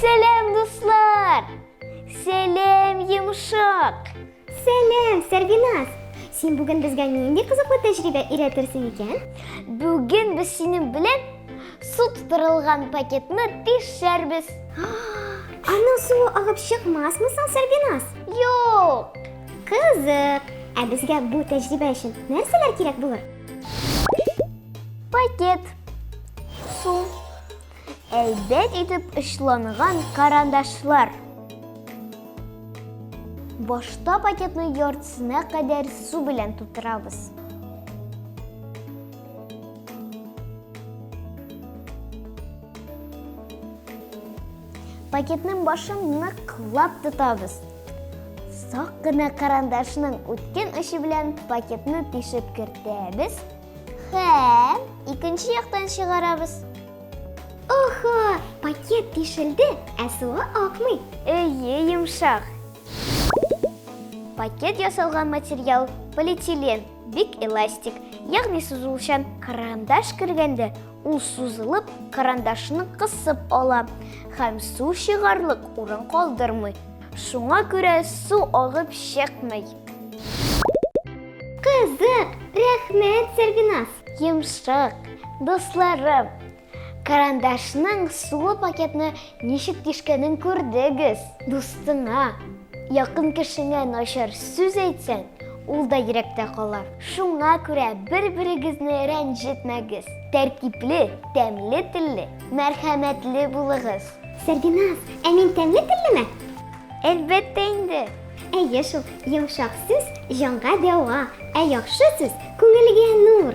Сәлем, дуслар! Сәлем, йомшак! Сәлем, Сәрбиназ! Син бүген безгә нинди кызыклы тәҗрибә өйрәтерсең икән? Бүген без синең белән су тутырылган пакетны тишәрбез. Аның суы агып чыкмасмы соң, Сәрбиназ? Юк! Кызык! Ә безгә бу тәҗрибә өчен нәрсәләр кирәк булыр? Пакет. Су. Әйбәт итеп очланган карандашлар. Башта пакетны яртысына кадәр су белән тутырабыз. Пакетның башын ныклап тотабыз. Сак кына карандашның үткен очы белән пакетны тишеп кертәбез һәм икенче яктан чыгарабыз. Охо, пакет тишелде, ә суы акмый. Эйе, йомшак. Пакет ясалган материал полиэтилен, бик эластик, ягъни сузылучан. Карандаш кергәндә Ул сузылып, карандашны кысып ала һәм су чыгарлык урын калдырмый. Шуңа күрә су агып чыкмый. Кызык, рәхмәт, Сәргиназ. Йомшак, дусларым. Карандашның суы пакетны Ничек тишкәнен күрдегез. Дустыңа, якын кешеңә начар сүз әйтсәң, ул да йөрәктә кала. Шуңа күрә бер-берегезне рәнҗетмәгез. Тәртипле, тәмле телле, мәрхәмәтле булыгыз. Сәрбиназ, ә мин тәмле теллеме? Әлбәттә инде! Әйе шул, йомшак сүз, җанга дәва, ә яхшы сүз, күңелгә нур!